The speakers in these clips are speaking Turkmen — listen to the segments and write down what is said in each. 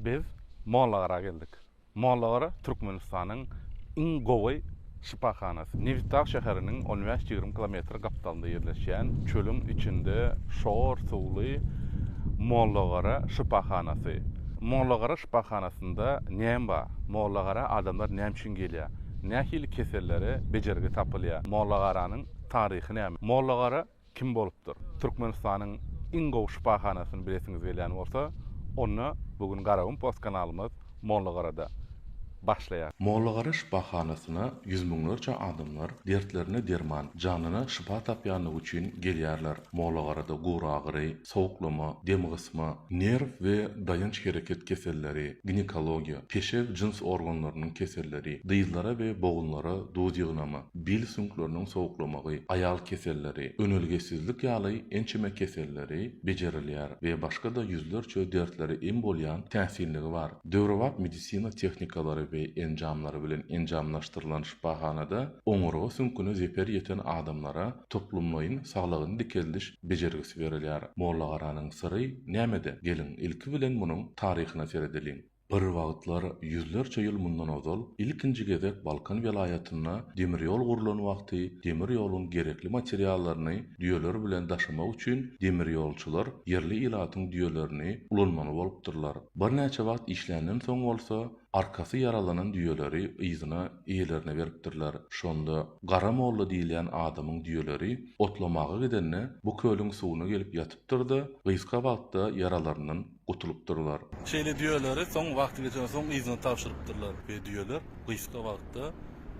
Biz Mollagara geldik. Mollagara Türkmenistanyň iň gowy şypahanasy. Nebitdag şäheriniň on bäş-ýigrimi kilometr gapdalynda ýerleşýän çölüň içinde şor suwly Mollagara şypahanasy. Mollagara şypahanasynda näme bar? Mollagara adamlar näme üçin gelýär? Nähili kesellere bejergi tapylýar? Mollagaranyň taryhy näme? Mollagara Kim bolupdyr? Türkmenistanyň iň gowy şypahanasyny bilesiňiz gelýän bolsa, onda bu gün Garagum post kanalymyz Mollagarada başlaýar. Mollagara şypahanasyna ýüz müňlerçe adamlar dertlerine derman, janyna şypa tapýanlygy üçin gelýärler. Mollagarada guragyry, sowuklama, demgysma, nerw we daýanç-hereket keselleri, ginekologiýa, peşew jyns organlarynyň keselleri, dyzlara we bogunlara duz ýygnama, bil süňkleriniň sowuklamagy, aýal keselleri, önelgesizlik ýaly ençeme keselleri bejerilýär we başga-da ýüzlerçe dertlere em bolýan täsinligi bar. Döwrebap medisina tehnikalary we enjamlary bilen enjamlaşdyrylan şypahanada oňurga süňküne zeper ýeten adamlara toplumlaýyn saglygyny dikeldiş bejergisi berilýär. Mollagaranyň syry nämede? Geliň, ilki bilen munuň taryhyna seredeliň. Bir wagtlar, ýüzlerçe ýyl mundan ozal, ilkinji gezek Balkan welaýatynda demir ýol gurlan wagty demir ýoluň gerekli materiallaryny düýeler bilen daşamak üçin demirýolçylar ýerli ilatyň düýelerini ulanmaly bolupdyrlar. Birnäçe wagt işländen soň bolsa, arkasy ýaralanan düýeleri yzyna eýelerine beripdirler. Şonda Gara molla diýilýän adamyň düýeleri otlamaga gidende bu kölüň suwuna gelip ýatypdyr-da, gysga wagtda ýaralaryndan gutulypdyrlar. Şeýle düýeleri soň wagty geçenden soň yzyna tabşyrypdyrlar we düýeler gysga wagtda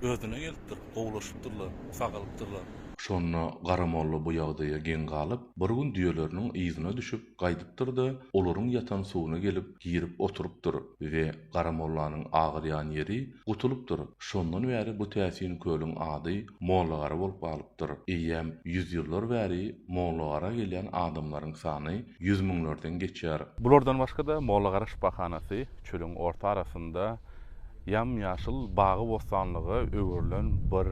özüne gelipdir, gowulaşypdyrlar, sagalypdyrlar. Şonda Gara molla bu ýagdaýa geň galyp, bir gün düýeleriniň yzyna düşüp, Gaýdypdyr-da, olaryň ýatan suwuna gelip girip oturypdyr we Gara mollanyň agyrýan ýeri gutulypdyr. Şondan bäri bu täsin kölüň ady Mollagara bolup galypdyr. Eýýäm ýüz ýyllar bäri Mollagara gelýän adamlaryň sany ýüz müňlerden geçýär. Bulardan başga-da Mollagara şypahanasy çölüň orta arasynda ýam-ýaşyl bagy-bossanlyga öwrülen bir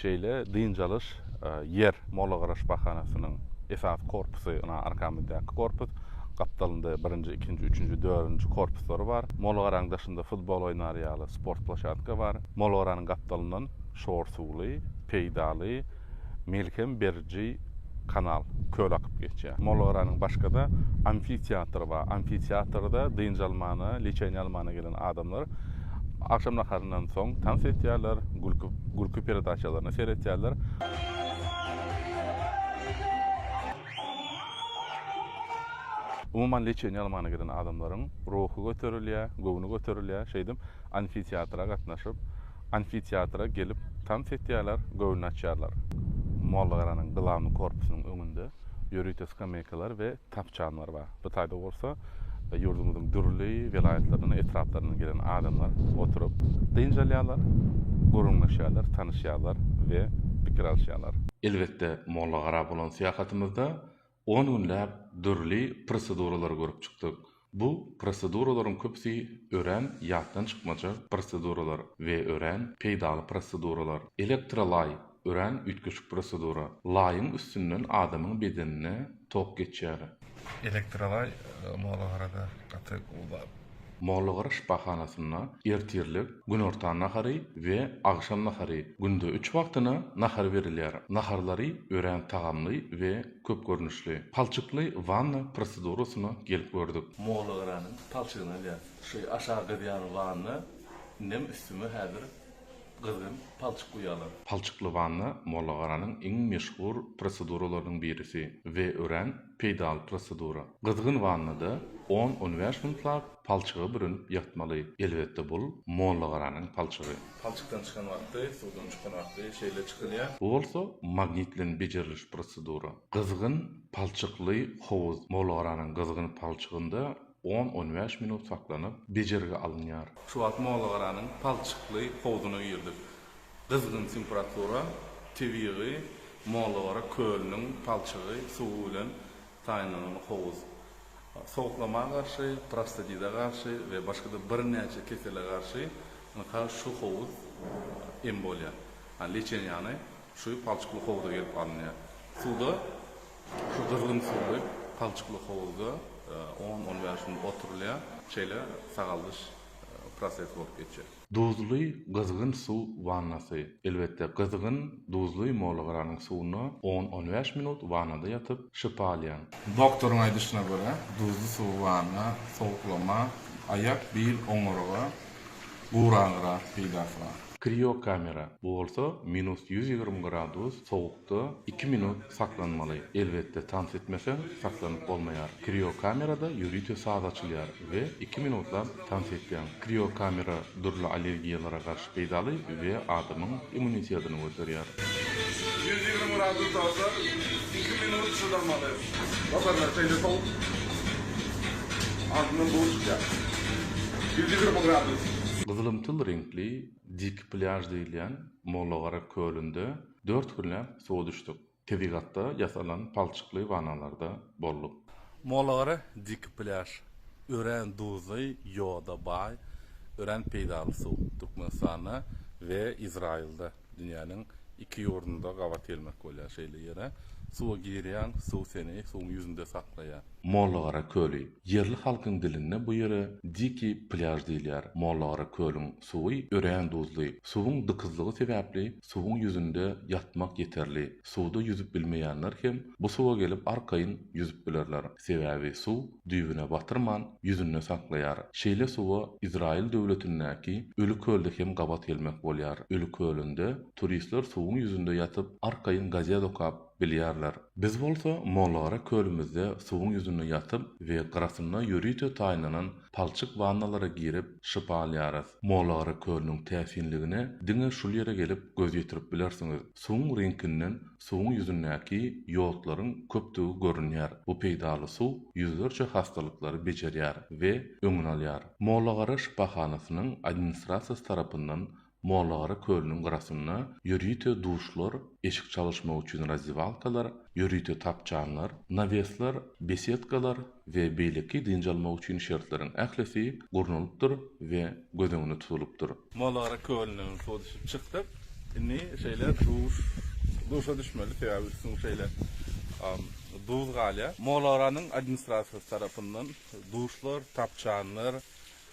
şeýle dynç alyş ýer, Molla Garaş bahanasynyň esasy korpusy, ynha, arkamyzdaky korpus, gapdalynda birinji, ikinji, üçünji, dördünji korpuslary bar. Molla Garaň daşynda futbol oýnar ýaly sport ploşadka bar. Molla Garanyň gapdalyndan şor suwly, peýdaly, Melhem beriji kanal, köl akyp geçýär. Mollagaranyň başga-da amfiteatry bar. Amfiteatrda dynç almana, lečeniýe almana gelen adamlar agşam naharyndan soň tans etýärler, gülki gülki peredaçalaryna seretýärler. Umuman, lečeniýe almana gelen adamlaryň ruhy göterilýär, göwni göterilýär. Şeýdip, amfiteatra gatnaşyp, Amfiteatra gelip tans etýärler, göwün açýarlar. Mollagaranyň glawnyý korpusynyň öňünde ýörite skameýkalar we tapçanlar bar. Bu taýda bolsa ýurdumyzyň dürli welaýatlaryndan, etraplaryndan gelen adamlar oturyp, dynç alýarlar, gürrüňleşýärler, tanyşýarlar we pikir alyşýarlar. Elbetde, Mollagara bolan syýahatymyzda On günläp dürli proseduralary görüp çykdyk. Bu proseduralaryň köpüsi örän ýatdan çykmajak proseduralar we örän peýdaly proseduralar. Elektrolaý, örän üýtgeşik prosedura. Laýyň üstünden adamyň bedenine tok geçýär. Elektrolaý, molagarada gaty uly zat. Mollagaraş bahanasynda ertirlik, günortan nahary we agşam nahary, günde üç wagtyna nahar berilýär. Naharlary örän tagamly we köp görnüşli. Palçykly wanna prosedurasyna gelip gördük. Mollagaranyň palçygyny alýas. Şu aşak gyzýan wanna, indem üstüme häzir Gyzgyn, palçyk uýalar. Palçykly wanna Mollagaranyň iň meşhur proseduralarynyň birisi we örän peýdaly prosedura. Gyzgyn wannada on-on bäş minutlap palçygy bürünip ýatmaly. Elbetde bul Mollagaranyň palçygy. Palçykdan çykan wagty, suwdan çykan wagty şeýle çykylýar. Bu bolsa magnit bilen bejeriliş prosedura. Gyzgyn palçykly howuz Mollagaranyň gyzgyn palçygynda On-on bäş minut saklanyp, bejergi alynýar. Şu wagt Mollagaranyň palçykly howzuna girdik. Gyzgyn temperatura, tebigy Mollagara kölüniň palçygy suwy bilen taýynlanylgy howuz. Sowuklama garşy, prostadite garşy we başga-da birnäçe kesele garşy ynha şu howuz em bolýar. Leçeniýany şu palçykly howza gelip alynýar. Suwda Şu gyzgyn suwly, palçykly howuzda on-on bäş gün oturylýar. Şeýle sagaldyş prosesi bolup geçýär. Duzly gyzgyn suw wannasy. Elbetde, gyzgyn, duzly molagaranyň suwunda on-on bäş minut wannada ýatyp, şypa alýaň. Doktoryň aýdyşyna görä, duzly suw, wanna, sowuklama, aýak, bil, oňurga, guragyra peýdasy bar. Kriokamera, bu bolsa minus ýüz ýigrimi gradus sowuk. Da iki minut saklanmaly. Elbetde tans etmeseň saklanyp bolmaýar. Kriokamerada ýörite saz açylýar we iki minutlap tans etýäň. Kriokamera dürli allergiýalara garşy peýdaly we adamyň immunitetini göterýär. Gyzylymtyl reňkli Dik plýaž diýilýän Mollagara kölünde Dört günläp suwa düşdük. Tebigatda ýasalan palçykly wanalarda bolduk. Molagara diki plýaž. Örän duzly, ýoda baý, örän peýdaly suw. Türkmenistanda we Izraýylda, dünýäniň iki ýurdunda gabat gelmek bolýar şeýle ýere. Suwa girýäň, suw seni suwuň ýüzünde saklaýar. Mollagara köli. Ýerli halkyň dilinde bu ýere diki plýaž diýilýär. Mollagara kölüň Suwy örän duzly. Suwuň dykyzlygy sebäpli suwuň ýüzünde ýatmak ýeterli. Suwda ýüzüp bilmeýänler hem bu suwa gelip arkaýyn ýüzüp bilerler. Sebäbi suw düýbüne batyrman, ýüzünde saklaýar. Şeýle suwa Izraýyl döwletindäki Öli kölde hem gabat gelmek bolýar. Öli kölünde turistler suwuň ýüzünde ýatyp, arkaýyn gazet okap, Bilýärler. Biz bolsa Mollagara kölümizde suwuň ýüzünde ýatyp we gyrasynda ýörite taýynlanan palçyk wannalara girip şypa alýarys. Mollagara kölüniň täsinligine diňe şul ýere gelip göz ýetirip bilersiňiz. Suwuň reňkinden suwuň ýüzündäki ýodlaryň köpdügi görünýär. Bu peýdaly suw ýüzlerçe hassalyklary bejerýär we öňüni alýar. Mollagara şypahanasynyň administrasiýasy tarapyndan Mollagyra kölüniň gyrasynda ýörite duşlar, eşik çalyşmak üçin razdiwalkalar, ýörite tapçanlar, nawesler, besedkalar we beýleki dynç almak üçin şertleriň ählisi gurnalypdyr we göz öňünde tutulypdyr. Mollagyra kölünden suwdüşüp çykdyk. Indi şeýle duş, duşa düşmeli, sebäbi üstüň şeýle duz galýar. Mollagranyň administrasiýasy tarapyndan duşlar, tapçanlar,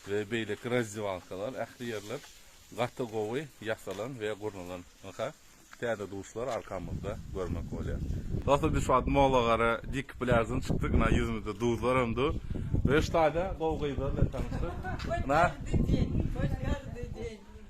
we beýleki razdewalkalar, ähli ýerler gaty gowy ýasalan we gurnalan. Ynha, täze duşlar arkamyzda görmek bolýar. Dostlar, biz şu wagt Molagara diýk plýaždan çykdyk. Ynha, ýüzümizde duzlaram dur we şu taýda gowy gyzlar bilen tanyşdyk. Ynha. Hoş geldijiň! Hoş geldijiň!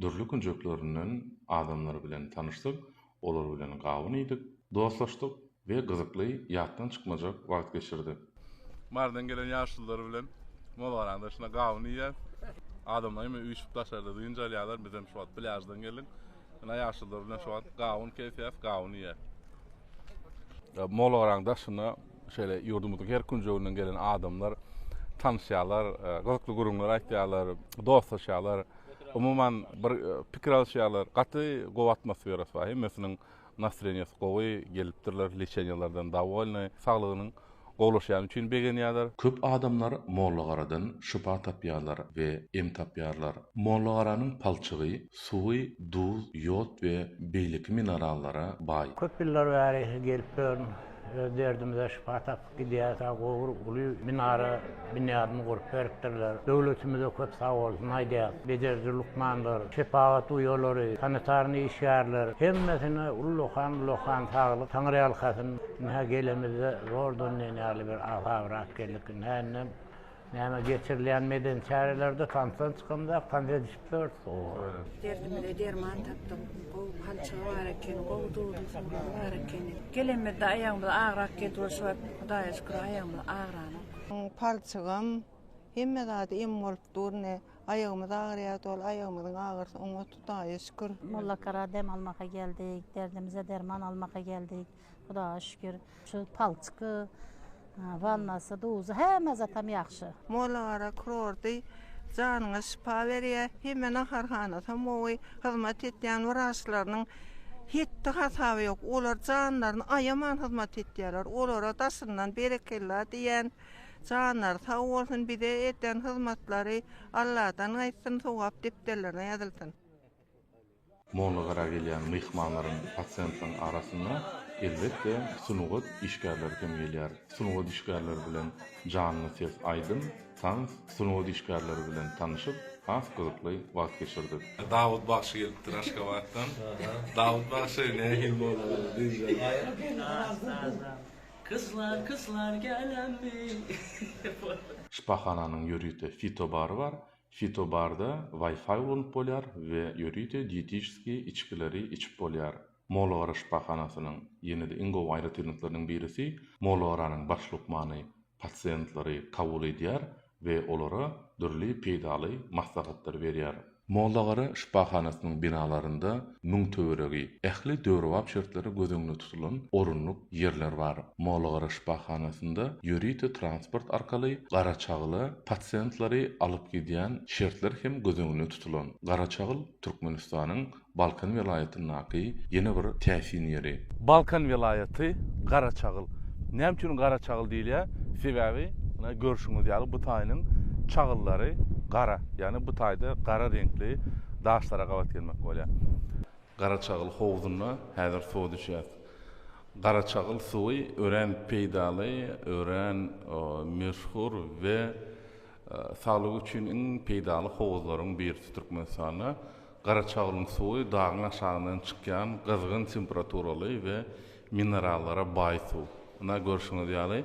dürli künjeklerinden adamlar bilen tanyşdyk, olar bilen gawun iýdik, dostlaşdyk we gyzykly, ýatdan çykmajak wagt geçirdik. Marydan gelen ýaşulular bilen Molgaranyň daşynda gawun iýýäs. Adamlar hemme üýşüp daşarda dynç alýarlar, biz hem şu wagt plýaždan geldik. Ine ýaşulular bilen şu wagt gawun kesýäs, gawun iýýäs. Molgaranyň daşynda Şeýle ýurdumyzyň her künjeginden gelen adamlar tanyşýarlar, gyzykly gürrüňler aýtýarlar, dostlaşýarlar. Umuman, bir pikir alyşýarlar. Gaty gowy atmosferasy bar. Hemmesiniň nastreniýasy gowy, gelipdirler, leçeniýalardan dowolnyý, saglygynyň gowulaşýany üçin begenýärler. Köp adamlar Mollagaradan şypa tapýarlar we em tapýarlar. Mollagaranyň palçygy, suwy duz, ýod we beýleki minerallara baý. Köp ýyllar bäri gelip duran Öz derdimize şypa tapyp gidýäris a gowur uly minara binýadyny gurup beripdirler. Döwletimize köp sag bolsun aýdýas. Bejeriji lukmanlar, şepagat uýalary, sanitarny işgärler hemmesine ullakan ullakan saglyk taňryýalkasyn. Ynha gelemizde zordan diýen ýaly bir asabyrap geldik. Indi händem Näme geçirilýän medeni çärelerde tansdan çykamda tans edişip ýörüs ooo. Derdimize derman tapdyk. Gowy palçygy bar ekeni, gowy duzly suwlary bar ekeni. Gelenmizde aýagymyz agrak geldi we şu wagt Hudaýa şükür aýagymyz agranok. Palçygam, hemme zady em bolup dur ine. Aýagymyz agyrýardy ol aýagymyzyň agyrysy oňat Hudaýa şükür. Mollakara dem almaka geldik, derdimize derman almaka geldik. Hudaga şükür, şu palçyky, wannasy, duzy hemme zatam ýagşy. Mollagara kurorty janyňa şypa berýä, hemme naharhanasam gowy, hyzmat etýän wraçlarynyň hetdi hasaby ýok, olar janlaryny aýaman hyzmat etýärler, olara daşyndan berekella diýýän, janlary sag bolsun, bize eden hyzmatlary Alladan gaýtsyn, sogap depderlerine ýazylsyn. Mollagara gelýän myhmanlaryň, pasiýentlaryň arasynda, elbetde, sungat işgärleri hem gelýär. Sungat işgärleri bilen janly ses, aýdym, tans, sungat işgärleri bilen tanyşyp, has gyzykly wagt geçirdik. Dawut bagşy gelipdir Aşgabatdan. Dawut bagşy nähili bolmaly diýjek. Gyzlar gyzlar gelemmi. Şypahananyň ýörite fitobary bar. Fitobarda Wi-Fi ulanyp bolýar we ýörite diýetişskiý içgileri içip bolýar. Molagara şypahanasynyň ýene-de iň gowy aýratynlyklarynyň birisi, Molagaranyň baş lukmany pasiýentlary kabul edýär we olara dürli peýdaly maslahatlary berýär. Molagara şypahanasynyň binalarynda müň töweregi, ähli döwrebap şertleri göz öňünde tutulan orunlyk ýerler bar. Molagara şypahanasynda ýörite transport arkaly Garaçagyla pasiýentlary alyp gidýän şertler hem göz öňünde tutulan. Garaçagyl, Türkmenistanyň Balkan welaýatyndaky ýene bir täsin ýeri. Balkan welaýaty, Garaçagyl. Näme üçin Garaçagyl diýilýär? Sebäbi, muna görşüňiz ýaly, bu taýynyň çagyllary gara, ýagny bu taýda gara reňkli, daşlara gabat gelmek bolýar. Garaçagyl howzunda häzir suwa düşýäs. Garaçagyl suwy örän peýdaly, örän meşhur we saglyk üçin iň peýdaly howuzlaryň birisi Türkmenistanda. Garaçagylyň suwy dagyň aşagyndan çykýan gyzgyn temperaturaly we minerallara baý suw. Ynha görşüňiz ýaly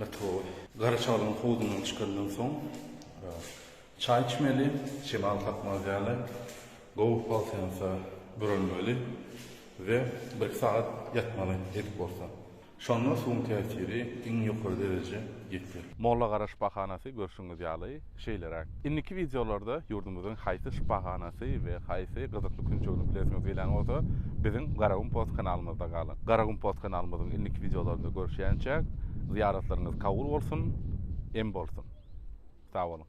Latowy. Gara çaglaň howdundan çykandan soň çaý içmeli, şemal kakmaz ýaly gowy polsensa bürenmeli we birki sagat ýatmaly edip bolsa. Şonda suwuň täsiri iň ýokary dereje ýeter. Mollagaraş bahanasy görşüňiz ýaly. Şeýleräk. Indiki wideolarda ýurdumyzyň haýsy şypahanasy we haýsy gyzykly künjegini bilesiňiz gelýän bolsa, biziň Garagum Post kanalymyzda galyň. Garagum Post kanalymyzyň indiki wideolarynda görüşýänçäk, zyýaratlaryňyz kabul bolsun, em bolsun! Sag boluň!